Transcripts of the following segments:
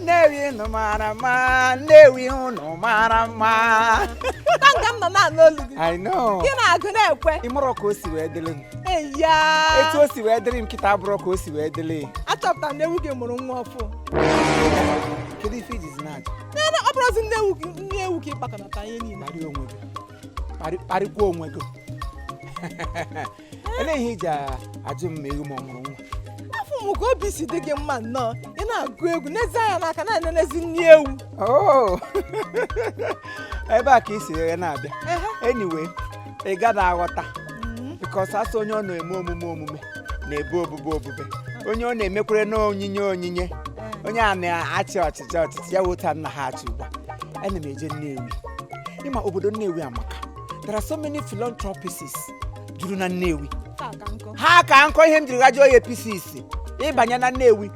nnewi ụnụ mara mma nnewi ụnụ mara mma tanga m nọ na-anụ olu gị I know gị na-agụ na-ekwe ị marọ ka o si wee dịrị m eya etu o si wee dịrị m kịta abụrụ ka o si wee dịrị achọpụtara na ewu gị mụrụ nwa ọfụ kedu ife ijizi na-ajụ nene ọ bụrụzi nne ewu gị nne ewu ka ịkpakọnata ihe niile kparịa onwe gị kparịkwa onwe gị Elee ihe iji ajụ m ma ewu m ọ mụrụ nwa? Afụ m ka obi si dị gị mma nnọọ ị na-agụ egwu n'ezi anya n'aka na-enenezi nne ewu. Oh! ebe a ka i si were na-abịa anyway ị gada aghọta mm-hmm. because asị onye ọ na-eme omume omume na-ebu obube obube onye ọ na-emekwere na onyinye onyinye eh. onye a na-achị ọchịchị ọchịchị ya wota nna ha achị ugbu a ana m eje Nnewi ịma obodo Nnewi amaka there are so many philanthropists juru na nnewi ha ka nkọ ihe m jiri gajụọ ya pieces ịbanye na nnewi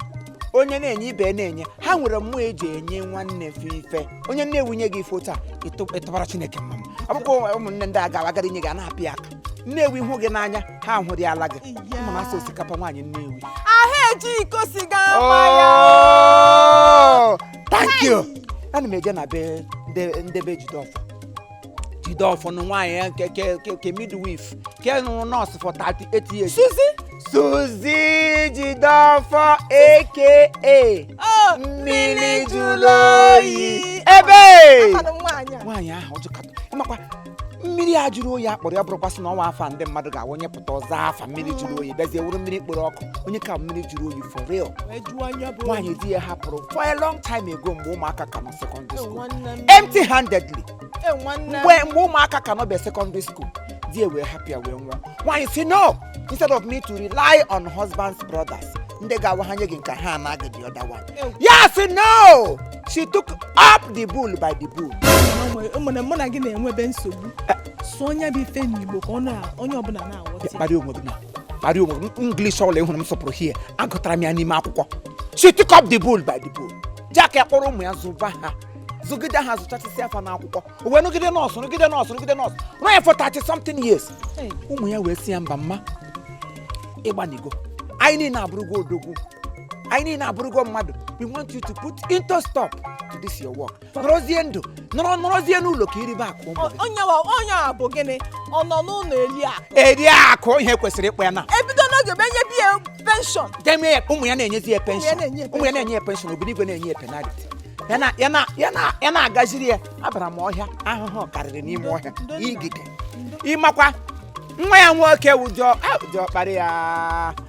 onye na-enye ibe na-enye ha nwere mmụọ eji enye nwanne fa ife onye nnewi nye gị ife taa ịtụ- ịtụbara chineke mma akwụkwọ ụmụnne ndị a gawa agara inye gị a na-apị ya aka nnewi hụ gị n'anya ha ahụrị ala gị ma na asụ osikapa nwaanyị nnewi ahụ eji iko siga ama ya Oh, thank you ana m eje na be ndị- ndị be jideọfọ jideọfọ na nwaanyị ya nke ke ke ke midwife ke rụrụ nọọsụ for 38 years suzi suzi jideọfọ aka o mmiri jụrụ oyi ebe Amanụ m nwaanyị a nwaanyị ahụ ọjọkata ịmakwa mmiri a jụrụ oyi akpọrọ ya bụrụkwasị na o nwe afa ndị mmadụ ga-awụnye pụta ọzọ afa mmiri jụrụ oyi bịazie wụrụ mmiri kpọrọ ọkụ onye ka mmiri jụrụ oyi for real wee jụọ anya bụ nwaanyị di ya hapụrụ for a long time ago mgbe ụmụaka ka nọ secondary school nwanne m empty handedly e nwanne m mgbe mgbe ụmụaka ka nọbe secondary school di wee hapụ ya wee nwụọ nwaanyị si no instead of me to rely on husband's brothers ndị ga-awa ha nye gị nke ha anaghị the other one Ew. ya si no she took up the bull by the bull Mụ na- mụ na gị na-enwebe nsogbu sụọ nya bụ ife n'igbo ka ọ na onye ọbụla na-aghọta ya. kparịa onwe gị na kparịa onwe gị English ọbụla ịhụrụ m sọpụrụ hie agụtara m ya n'ime akwụkwọ she took up the bull by the bull jack ya kpọrọ ụmụ ya zụba ha zụgide ha zụchasịsị afa n'akwụkwọ o wee rụgide nọọsụ rụgide nọọsụ rụgide nọọsụ rụọ ya for 30 something years Hey. ụmụ ya wee si ya mba mma ịgbanigo anyị niile abụrụgo odogwu anyị niile abụrụgo mmadụ we want you to put into stop to this your work nọrọzie ndụ nọrọ nọrọzie n'ụlọ ka iribe akụ ụmụ gị. onye wa onye a bụ gịnị ọ nọ n'ụlọ eli a eri akụ ihe kwesịrị ịkpọ ya na ebido n'oge bụ enyebe ya penshọn deme ya ụmụ ya na-enyezi ya penshọn na-enye ya ụmụ ya na-enye ya penshọn obinigwe na-enye ya penaliti ya na ya na ya na ya na-agaziri ya abara m ọhịa ahụhụ karịrị n'ime ọhịa igide ịmakwa nwa ya nwoke wụjọ ụjọ kparị ya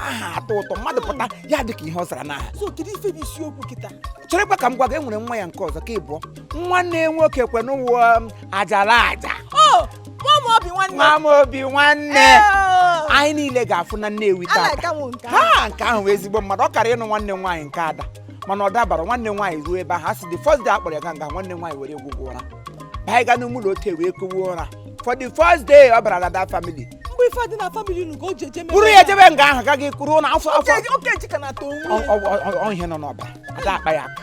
aha atọ ụtọ mmadụ pụta ya dị ka ihe ọ zara n'aha so kedu ife bụ isiokwu kịta cherekwa ka m gwa gị enwere nwa ya nke ọzọ ka ịbụọ nwanne ya nwoke kwe n'ụwa um, ajala aja o nwa m obi nwanne nwa m obi nwanne Ee, anyị niile ga-afụ na nnewi a tata na-aka m nke ahụ. ha nke ahụ bụ ezigbo mmadụ ọ kara ịnụ nwanne m nwaanyị nke ada mana ọ dabara nwanne m nwaanyị ruo ebe ahụ a sị the first day a kpọrọ ya ga nga nwanne m nwaanyị were gwụgwọ ụra baa ịga n'ụmụlọ ote wee kowe ụra for the first day ọ bara na that family mgbe ife adị na family unu ka o ji eje mebe buru ya jebe nga ahụ ka gị kwuruo na afọ afọ Oke- oke ji ka na-ata onwe ya. Ọ- ọ- ọ- ọ ihe nọ n'ọbara ada akpa ya aka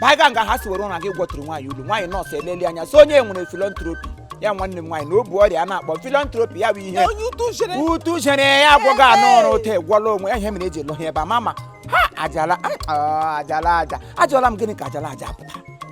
baa ga nga ha si were ụra gị gwọtụrụ nwaanyị ulu nwaanyị nọọsụ eleli anya so onye nwere philanthropy ya nwanne m nwaanyị na ọ bụ ọrịa a na-akpọ philanthropy ya bụ ihe onye utu jere utu chere ya agwọghị anụ ọrụ ote egwọla onwe ya ihe mere eji elohi ebe a mama ha ajala ah, ajala aja ajụọla m gịnị ka ajala aja pụtara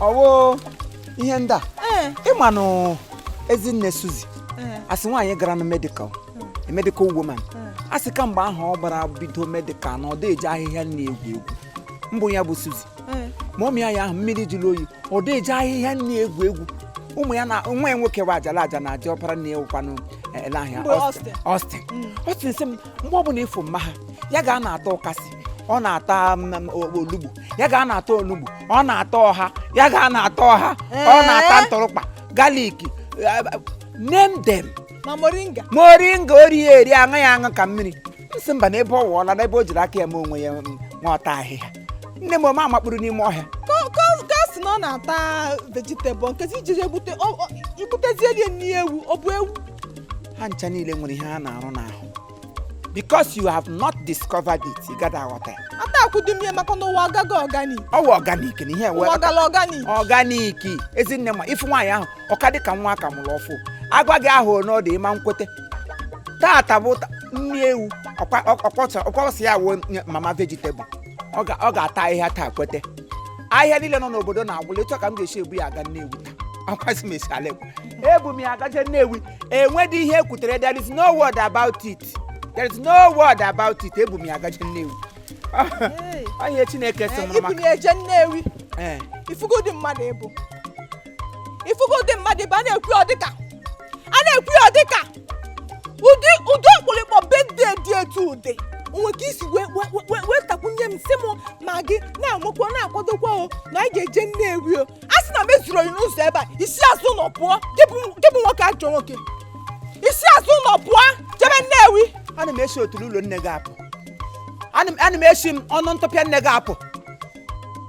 ọ wụ ihe ndị a eh. ịmanụ ezinne suzi eh. asị nwaanyị gara na medical eh. medical woman asị kamgbe ahụ ọ bara bido medical na ọ da eji ahịhịa na-egwu egwu mbụ ya bụ suzi ma ụmụ ya ya ahụ mmiri jụrụ oyi ọ da eji ahịhịa na-egwu egwu ụmụ ya na nwa ya nwoke wa ajala aja na aja ọpara na ewukwanụ ele ahịa Austin Austin mm. sị m mgbe ọ bụla ị fụ mma ha ya ga na-ata ụkazị ọ na-ata olugbu ya ga na-ata olugbu ọ na-ata ọha ya ga na-ata ọha ọ na-ata eh? ntụrụkpa garlic eh, name them ma moringa moringa o ri ya eri aṅụ ya aṅụ ka mmiri m sị mba na ebe ọ wụọla na ebe o jiri aka ya ma onwe ya mm, na-ata ahịhịa nne m o mee amakpuru n'ime ọhịa ga sị na ọ na-ata vegetable nkezi ijiri egbute igbutezie rie nri ewu ọ bụ ewu ha ncha niile nwere ihe ha na-arụ n'ahụ because you have not discovered it ị gaghị aghọta ya ata akwụdum ya maka na ụwa agaghị organi ọ wụ organic na ihe ụwa gala organi organic ezinne ma i fu nwaanyị ahụ ọ ka dị ka nwa a ka mụrụ ọfụụ agwa gị ahụ na ọ dị ịma nkwete tata bụ ta- nri ewu ọkwọsị ya wụ nye mama vegetable ọ ga- ọ ga-ata ahịhịa taa kwete ahịhịa niile nọ n'obodo na-agwụla ịchọ ka m ga-esi ebu ya aga nnewi akwasị m esi ala ekwe ebu m ya gaje nnewi enwedị ihe ekwutere there is no word about it there is no word about it ebu m ya gaje nnewi Hey. ọ ihe chineke sị mụrụ ibuli maka eje nnewi ee ị fụgo ụdị mmadụ ị bụ ị fụgo ụdị mmadụ ị bụ a na-ekwu ya ọ dị ka a na-ekwu ya ọ dị ka ụdị ụdị ọkpụrịkpọ bedde dị etu ụdị o nwe ka i si wee wee- wee- wee takwunye m sị m ma gị na-amụkwa na-akwadokwa o na anyị ga-eje nnewi o a sị na m ezuro gị n'ụzọ ebe a i si azụ ụlọ pụọ gị bụ gị bụ nwoke ajọ nwoke i si azụ ụlọ pụọ jebe nnewi ana m esi otulu ụlọ nne gị apụ ana m ana m esi m ọnụ ntụpịa nne gị apụ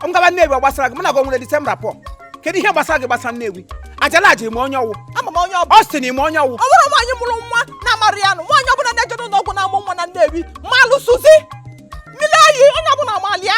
m gaba nnewi ọ gbasara gị mụ na gị nwere disemba pụọ kedu ihe gbasara gị gbasara nnewi ajala aja ị ma onye ọ wụ ama m onye ọ bụ ọ sị na ị ma onye ọ wụ ọ bụrụ nwaanyị mụrụ nwa na-amara ya nụ nwaanyị ọbụla na-eje n'ụlọ ọgwụ na-amụ nwa na nnewi malụ suzy mmiri oyi onye ọbụla malụ ya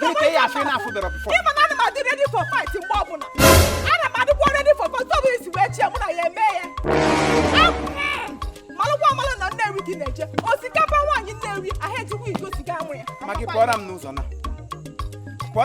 Gịnị ka ị ya-afụ ị na-afụberọ before? Ị ma na ana m adị ready for fight mgbe ọbụla. Ana m adịkwa ready for fight ọ bụ isi wee chie mụ na ya eme ya. Malụkwa amalụ na Nnewi gị na-eje. Osikapa nwaanyị Nnewi ahụ ejikwa iko siga amụ ya. Ma gị pụọra m n'ụzọ na. Pụọ.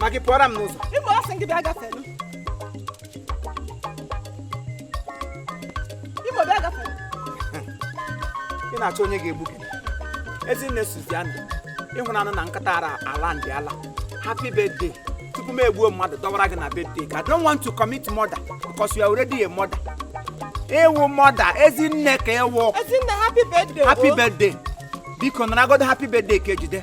ma gị pụọra m n'ụzọ ịbụ ọ sị gị bịa gafelu ịbụ bịa gafelu ị na-achọ onye ga-egbu gị ezinne Suziana ịhụnanụ na nkata ara ala ndị ala happy birthday tupu m egbuo mmadụ dọwara gị na birthday ka I don't want to commit murder because you are already a mother ị wụ mother ezinne ka ị wụ ezinne happy birthday happy birthday biko naragodo happy birthday ka ejide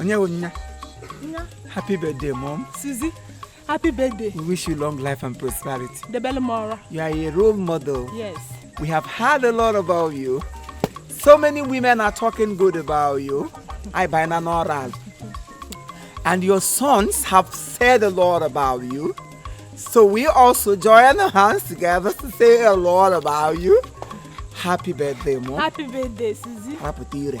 onye bụ nya happy birthday mom Suzy happy birthday we wish you long life and prosperity debele m ọra you are a role model yes we have heard a lot about you so many women are talking good about you I buy na n'ọra and your sons have said a lot about you so we also join our hands together to say a lot about you happy birthday mom happy birthday Suzy rapụta ire